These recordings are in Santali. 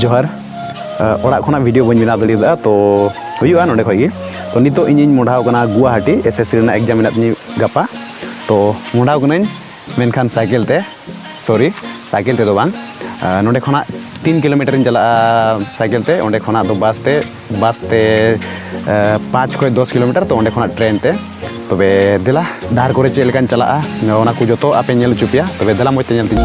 ᱡᱚᱦᱟᱨ ᱚᱲᱟᱜ ᱠᱷᱚᱱᱟᱜ ᱵᱷᱤᱰᱤᱭᱳ ᱵᱟᱹᱧ ᱵᱮᱱᱟᱣ ᱫᱟᱲᱮᱭᱟᱫᱟ ᱛᱚ ᱦᱩᱭᱩᱜᱼᱟ ᱱᱚᱰᱮ ᱠᱷᱚᱱ ᱜᱮ ᱛᱚ ᱱᱤᱛᱚᱜ ᱤᱧᱤᱧ ᱢᱚᱰᱷᱟᱣ ᱠᱟᱱᱟ ᱜᱩᱣᱟᱦᱟᱴᱤ ᱮᱥ ᱮᱥ ᱥᱤ ᱨᱮᱱᱟᱜ ᱮᱠᱡᱟᱢ ᱢᱮᱱᱟᱜ ᱛᱤᱧᱟᱹ ᱜᱟᱯᱟ ᱛᱚ ᱢᱚᱰᱷᱟᱣ ᱠᱟᱹᱱᱟᱹᱧ ᱢᱮᱱᱠᱷᱟᱱ ᱥᱟᱭᱠᱮᱞ ᱛᱮ ᱥᱚᱨᱤ ᱥᱟᱭᱠᱮᱞ ᱛᱮᱫᱚ ᱵᱟᱝ ᱱᱚᱰᱮ ᱠᱷᱚᱱᱟᱜ ᱛᱤᱱ ᱠᱤᱞᱳᱢᱤᱴᱟᱨᱤᱧ ᱪᱟᱞᱟᱜᱼᱟ ᱥᱟᱭᱠᱮᱞ ᱛᱮ ᱚᱸᱰᱮ ᱠᱷᱚᱱᱟᱜ ᱫᱚ ᱵᱟᱥ ᱛᱮ ᱵᱟᱥ ᱛᱮ ᱯᱟᱸᱪ ᱠᱷᱚᱱ ᱫᱚᱥ ᱠᱤᱞᱳᱢᱤᱴᱟᱨ ᱛᱚ ᱚᱸᱰᱮ ᱠᱷᱚᱱᱟᱜ ᱴᱨᱮᱱ ᱛᱮ ᱛᱚᱵᱮ ᱫᱮᱞᱟ ᱰᱟᱦᱟᱨ ᱠᱚᱨᱮ ᱪᱮᱫ ᱞᱮᱠᱟᱧ ᱪᱟᱞᱟᱜᱼᱟ ᱚᱱᱟ ᱠᱚ ᱡᱚᱛᱚ ᱟᱯᱮ ᱧᱮᱞ ᱦᱚᱪᱚ ᱯᱮᱭᱟ ᱛᱚᱵᱮ ᱫᱮᱞᱟ ᱢᱚᱡᱽ ᱛᱮ ᱧᱮᱞ ᱛᱤᱧ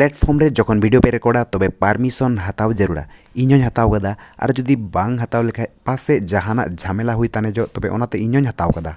ᱯᱞᱮᱴᱯᱷᱚᱨᱢ ᱨᱮ ᱡᱚᱠᱷᱚᱱ ᱵᱷᱤᱰᱤᱭᱳ ᱯᱮ ᱨᱮᱠᱚᱨᱰᱟ ᱛᱚᱵᱮ ᱯᱟᱨᱢᱤᱥᱚᱱ ᱦᱟᱛᱟᱣ ᱡᱟᱹᱨᱩᱲᱟ ᱤᱧ ᱦᱚᱸᱧ ᱦᱟᱛᱟᱣ ᱠᱟᱫᱟ ᱟᱨ ᱡᱩᱫᱤ ᱵᱟᱝ ᱦᱟᱛᱟᱣ ᱞᱮᱠᱷᱟᱡ ᱯᱟᱥᱮ ᱡᱟᱦᱟᱱᱟᱜ ᱡᱷᱟᱢᱮᱞᱟ ᱦᱩᱭ ᱛᱟᱱᱮᱡᱚᱜ ᱛᱚᱵᱮ ᱚᱱᱟᱛᱮ ᱤᱧ ᱦᱚᱸᱧ ᱦᱟᱛᱟᱣ ᱠᱟᱫᱟ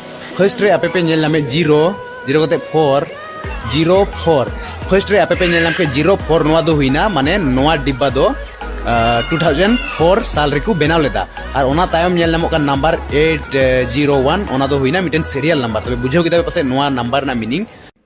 ᱯᱷᱟᱨᱥᱴ ᱨᱮ ᱟᱯᱮ ᱯᱮ ᱧᱮᱞ ᱧᱟᱢᱮᱫ ᱡᱤᱨᱳ ᱡᱤᱨᱳ ᱠᱟᱛᱮ ᱯᱷᱳᱨ ᱡᱤᱨᱳ ᱯᱷᱳᱨ ᱯᱷᱟᱨᱥᱴ ᱨᱮ ᱟᱯᱮ ᱯᱮ ᱧᱮᱞ ᱧᱟᱢ ᱠᱮᱫ ᱡᱤᱨᱳ ᱯᱷᱳᱨ ᱱᱚᱣᱟ ᱫᱚ ᱦᱩᱭᱱᱟ ᱢᱟᱱᱮ ᱱᱚᱣᱟ ᱰᱤᱵᱵᱟ ᱫᱚ ᱴᱩ ᱛᱷᱟᱣᱡᱮᱱᱰ ᱯᱷᱳᱨ ᱥᱟᱞ ᱨᱮᱠᱚ ᱵᱮᱱᱟᱣ ᱞᱮᱫᱟ ᱟᱨ ᱚᱱᱟ ᱛᱟᱭᱚᱢ ᱧᱮᱞ ᱧᱟᱢᱚᱜ ᱠᱟᱱ ᱱᱟᱢᱵᱟᱨ ᱮᱭᱤᱴ ᱡᱤᱨᱳ ᱳᱣᱟᱱ ᱚᱱᱟ ᱫᱚ ᱦᱩᱭᱱᱟ ᱢᱤᱫᱴᱮᱱ ᱥᱤᱨᱤᱭᱟᱞ ᱱᱟᱢᱵᱟᱨ ᱛᱚᱵᱮ ᱵᱩᱡᱷᱟᱹᱣ ᱠᱮᱫᱟ ᱯᱟᱥᱮᱡ ᱱᱚᱣᱟ ᱱᱟᱢᱵᱟᱨ ᱨᱮᱱᱟᱜ ᱢᱤᱱᱤᱝ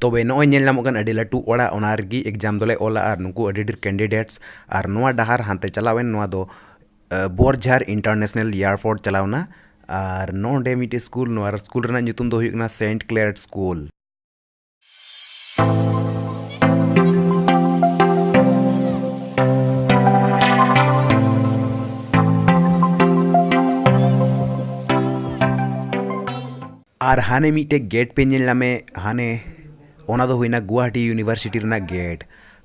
ᱛᱚᱵᱮ ᱱᱚᱜᱼᱚᱭ ᱧᱮᱞ ᱧᱟᱢᱚᱜ ᱠᱟᱱ ᱟᱹᱰᱤ ᱞᱟᱹᱴᱩ ᱚᱲᱟᱜ ᱚᱱᱟ ᱨᱮᱜᱮ ᱮᱠᱡᱟᱢ ᱫᱚᱞᱮ ᱚᱞᱟ ᱟᱨ ᱱᱩᱠᱩ ᱟᱹᱰᱤ ᱰᱷᱮᱨ ᱠᱮᱱᱰᱤᱰᱮᱴᱥ ᱟᱨ ᱱᱚᱣᱟ ᱰᱟᱦᱟᱨ ᱦᱟᱱᱛᱮ ᱪᱟᱞᱟᱣᱮᱱ ᱱᱚᱣᱟ ᱫᱚ ᱵᱚᱨᱡᱷᱟᱨ ᱤᱱᱴᱟᱨᱱᱮᱥᱱᱮᱞ ᱮᱭᱟᱨᱯᱳᱨᱴ ᱪᱟᱞᱟᱣᱱᱟ ᱟᱨ ᱱᱚᱰᱮ ᱢᱤᱫᱴᱮᱱ ᱥᱠᱩᱞ ᱱᱚᱣᱟ ᱥᱠᱩᱞ ᱨᱮᱱᱟᱜ ᱧᱩᱛᱩᱢ ᱫᱚ ᱦᱩᱭᱩᱜ ᱠᱟᱱᱟ ᱥᱮᱱᱴ ᱠᱞᱮᱭᱟᱨᱰ ᱥᱠᱩᱞ ᱟᱨ ᱦᱟᱱᱮ ᱢᱤᱫᱴᱮᱡ ᱜᱮᱴ ᱯᱮ ᱧᱮᱞ ᱧᱟᱢᱮ ᱦᱟᱱᱮ ᱚᱱᱟ ᱫᱚ ᱦᱩᱭᱱᱟ ᱜᱩᱣᱟᱦᱟᱴᱤ ᱤᱭᱩᱱᱤᱵᱷᱟᱨᱥᱤᱴᱤ ᱨᱮᱱᱟᱜ ᱜᱮᱴ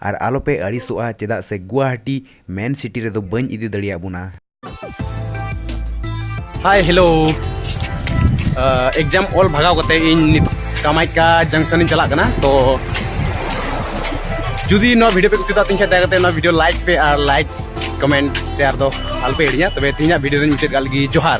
ᱟᱨ ᱟᱞᱚ ᱯᱮ ᱟᱹᱲᱤᱥᱚᱜᱼᱟ ᱪᱮᱫᱟᱜ ᱥᱮ ᱜᱩᱣᱟᱦᱟᱴᱤ ᱢᱮᱱ ᱥᱤᱴᱤ ᱨᱮᱫᱚ ᱵᱟᱹᱧ ᱤᱫᱤ ᱫᱟᱲᱮᱭᱟᱜ ᱵᱚᱱᱟ ᱦᱟᱭ ᱦᱮᱞᱳ ᱮᱠᱡᱟᱢ ᱚᱞ ᱵᱷᱟᱜᱟᱣ ᱠᱟᱛᱮ ᱤᱧ ᱱᱤᱛ ᱠᱟᱢᱟᱭᱠᱟ ᱡᱚᱝᱥᱚᱱ ᱤᱧ ᱪᱟᱞᱟᱜ ᱠᱟᱱᱟ ᱛᱚ ᱡᱩᱫᱤ ᱱᱚᱣᱟ ᱵᱷᱤᱰᱤᱭᱳ ᱯᱮ ᱠᱩᱥᱤᱭᱟᱫᱟ ᱛᱤᱧ ᱠᱷᱟᱡ ᱫᱟᱭᱟ ᱠᱟᱛᱮ ᱱᱚᱣᱟ ᱵᱷᱤᱰᱤᱭᱳ ᱞᱟᱭᱤᱠ ᱯᱮ ᱟᱨ ᱞᱟᱭᱤᱠ ᱠᱚᱢᱮᱱᱴ ᱥᱮᱭᱟᱨ ᱫᱚ ᱟᱞᱚᱯᱮ ᱦᱤᱲᱤᱧᱟ ᱛᱚᱵᱮ ᱛᱤᱦᱤᱧᱟᱜ ᱵᱷᱤᱰᱤᱭᱳ ᱫᱚᱧ ᱢᱩᱪᱟᱹᱫ ᱠᱟᱜ ᱞᱟᱹᱜᱤᱫ ᱡᱚᱦᱟᱨ